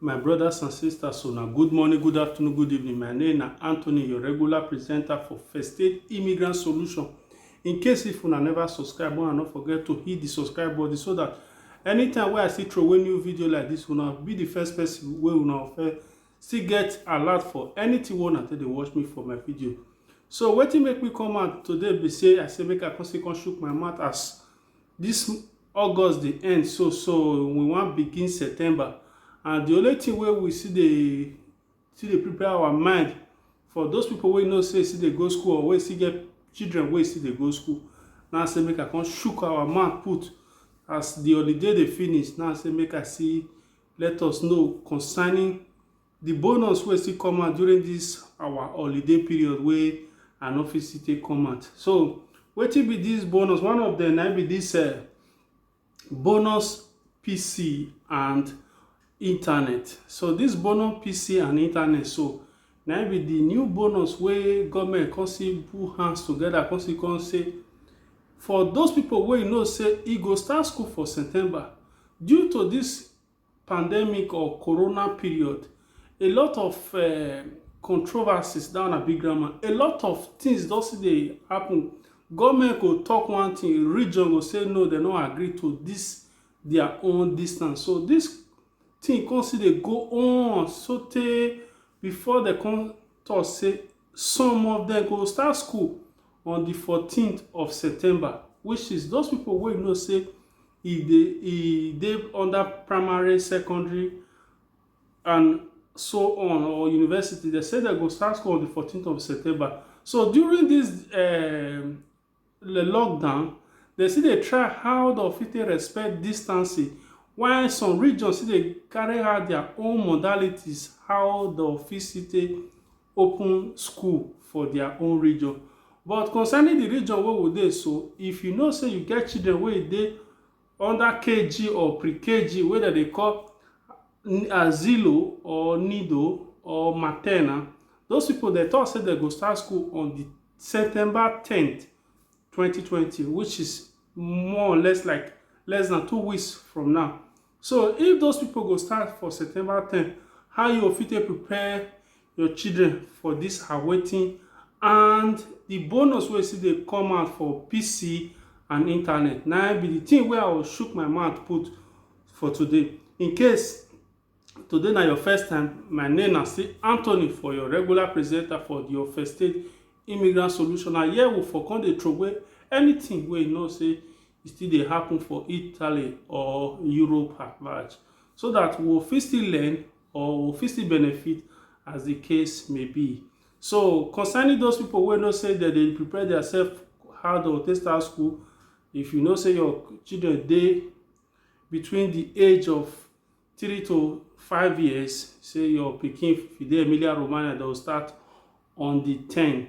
My brothers and sisters, una good morning, good afternoon, good evening. My name na Anthony, your regular presenter for First Aid Immigrant Solution. In case if una never subscribe, una no forget to hit the subscribe button so that anytime wey I see throw away new video like this, una be the first person wey una first still get alert for anything wey una take dey watch me for my video. So wetin make me come out today be say I say make I come still come shook my mouth as This August dey end so so we wan begin September and the only thing wey we still dey still dey prepare our mind for those people wey know say still dey go school or wey still get children wey still dey go school now say make I come shook our mouth put as the holiday dey finish now say make I see let us know concerning The bonus wey still come out during this our holiday period wey I no fit still take come out. So wetin be this bonus? One of them na be this uh, bonus PC and internet. So this bonus PC and internet so na be the new bonus wey government come see put hands together come see come say for those people wey you know say e go start school for September due to this pandemic or corona period, a lot of um controversies, dat one na big grammar, a lot of things don still dey happen. Government go talk one thing, region go say no, dem no agree to dis their own distance. So dis thing come still dey go on so tey before dem come talk say. Some of dem go start school on di fourteen of September which is those pipo wey know say e dey e dey under primary, secondary and so on or university, dem say dem go start school on di fourteen of September. So during dis um the lockdown, dem still dey try how dem fit take respect distancing while some regions still dey carry out their own modalities how dem go fit still take open school for their own region. But concerning the region wey we dey so, if you know sey you get children wey e dey Under KG or Pre-KG wey dem dey call Asilo or Nido or Maternal, those people dem talk say dem go start school on the September tenth, twenty twenty which is more or less like less than two weeks from now. So if those people go start for September tenth, how you go fit take prepare your children for this her waiting and the bonus wey still dey come out for pc and internet na be the thing wey i will shook my mouth put for today in case today na your first time my name na still anthony for your regular presenter for the your first aid immigrant solution and here we for come dey throway anything wey you know say e still dey happen for italy or europe at large so that we fit still learn or we fit still benefit as the case may be. So concerning those people wey know say dem dey prepare themselves how dem go take start school, if you know say your children dey between the age of three to five years, say your pikin if you dey Emilia Romagna, dem go start on the ten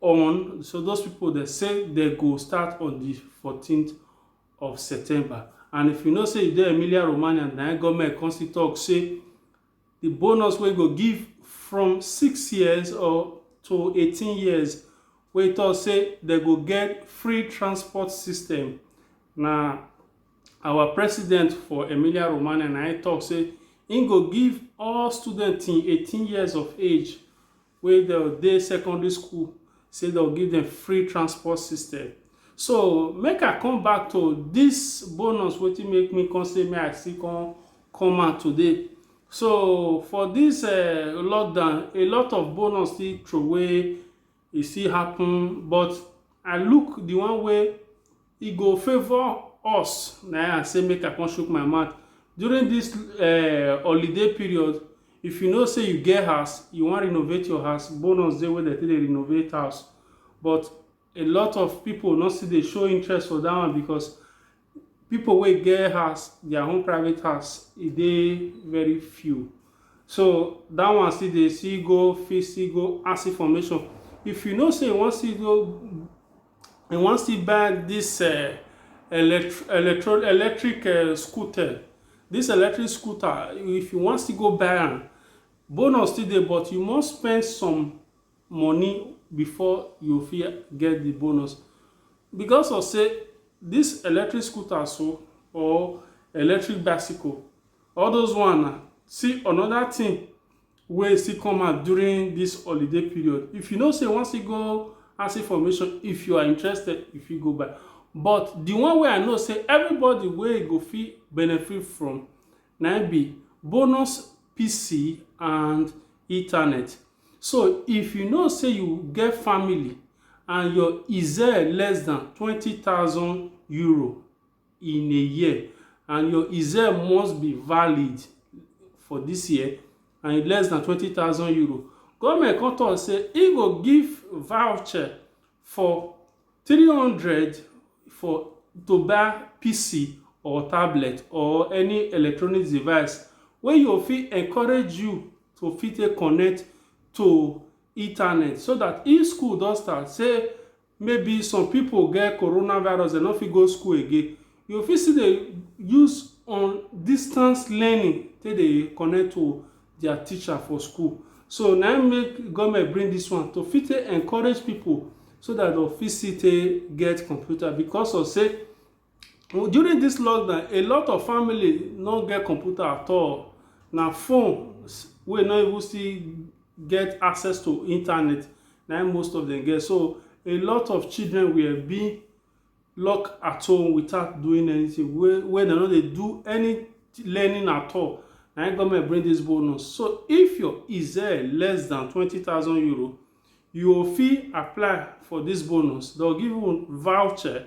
on so those people they say they go start on the 14th of september and if you know say you dey emilia romagna na government come still talk say the bonus wey go give from six years or to 18 years wey talk say they go get free transport system na our president for emilia romagna na im talk say im go give all students till 18 years of age wey dem dey secondary school sey dem go give dem free transport system. So, make I come back to dis bonus wetin make me come sey make I still come come out today. So, for dis um lockdown, a lot of bonus still throway, e still happen but I look the one wey e go favour us na I say make I come shook my mouth during this uh, holiday period if you know say you get house you wan renovate your house bonus dey wey dem take dey renovate house but a lot of people no still dey show interest for that one because people wey get house their own private house e dey very few so that one still dey still go fit still go ask information if you know say you wan still go I wan still buy this uh, elect electro electric uh, scooter. This electric scooter, if you wan still go buy am, bonus still dey but you must spend some money before you fit get the bonus because of say this electric scooter so or electric bicycle all those one na see another thing wey still come out during this holiday period if you know say you wan still go acid formation if you are interested you fit go buy but the one wey i know say everybody wey go fit benefit from na im be bonus pc and ethernet so if you know say you get family and your ize less than twenty thousand euro in a year and your exam must be valid for this year and less than twenty thousand euro government come talk say e go give voucher for three hundred for to buy pc or tablet or any electronic device wey you go fit encourage you to fit take connect to internet so that if school don start say Maybe some people get coronavirus dem no fit go school again, you go fit still dey use on distance learning take dey connect to their teacher for school. So na im make government bring this one to fit take encourage people so that dem go fit still take get computer because of say During dis lockdown, a lot of family no get computer at all. Na phones wey no even still get access to internet na im most of dem get. So, a lot of children were being locked at home without doing anything wey wey dem no dey do any learning at all. Na im government bring dis bonus. So, if your less than twenty thousand euro, you go fit apply for dis bonus. Dey go give you voucher.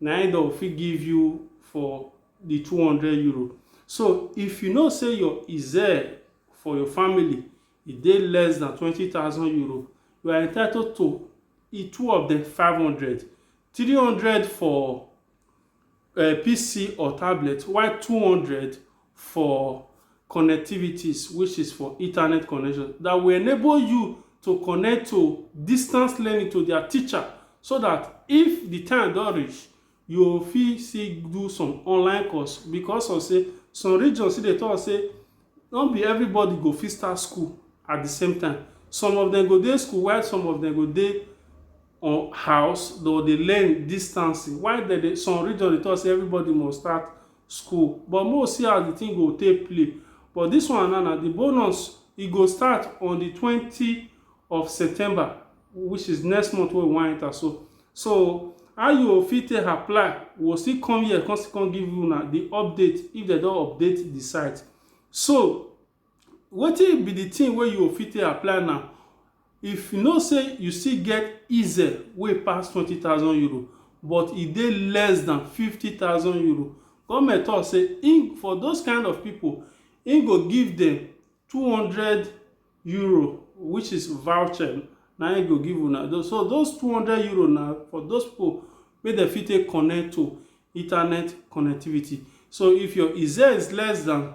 na him dem fit give you for the two hundred euro. So if you know say your IZER for your family e dey less than twenty thousand euro, you are entitled to e two of them five hundred, three hundred for uh, PC or tablet, while two hundred for connectivities, which is for internet connection, that will enable you to connect to distance learning to their teacher so that if the time don reach, you go fit still do some online course because of say some regions still dey talk say no be everybody go fit start school at the same time. Some of them go dey school while some of them go dey on house, they go dey learn distancing. While dem dey some region dey talk say everybody must start school but make we see as di tin go take play but dis one now na di bonus e go start on di twenty of September which is next month wey we wan enter so so how you go fit take apply we go still come here come still come give una di update if dem don update di site so Wetin be the thing wey you fit take apply now if you know say you still get ize wey e pass twenty thousand euro but e dey less than fifty thousand euro government talk say him for those kind of people him go give them two hundred euro which is voucher na him go give una though so those two hundred euro na for those people wey dem fit take connect to internet connectivity so if your ize is less than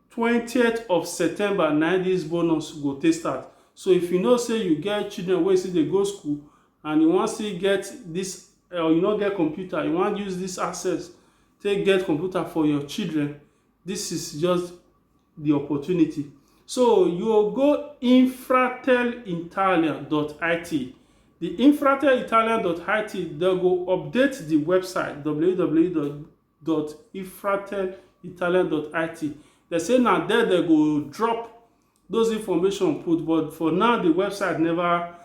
twentieth of September na im dis bonus go take start. So if you know say you get children wey still dey go school and you wan still get dis or you no get computer, you wan use dis access take get computer for your children, dis is just the opportunity. So you go go infratelitalian.it. The infratelitalian.it dem go update the website www.ifratelitalian.it. Dem say na there dem go drop those information put but for now the website never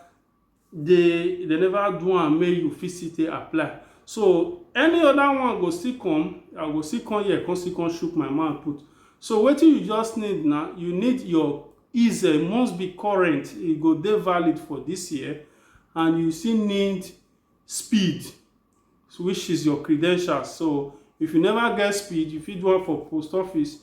dey they never do am make you fit still take apply so any other one go still come i go still come here come still come shook my mouth put so wetin you just need na you need your is e must be current e go dey valid for this year and you still need speed which is your credentials so if you never get speed you fit do am for post office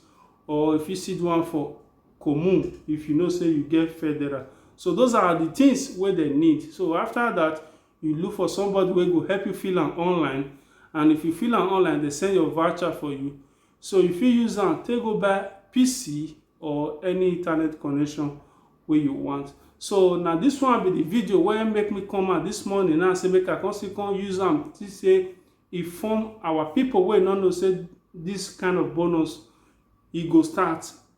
or you fit still do am for commune if you know say you get federal so those are the things wey dem need so after that you look for somebody wey go help you fill am online and if you fill am online they send your voucher for you So you fit use am take go buy PC or any internet connection wey you want. So na this one be the video wey make me come out this morning now say make I come still come use am see say e form our people wey no know say this kind of bonus e go start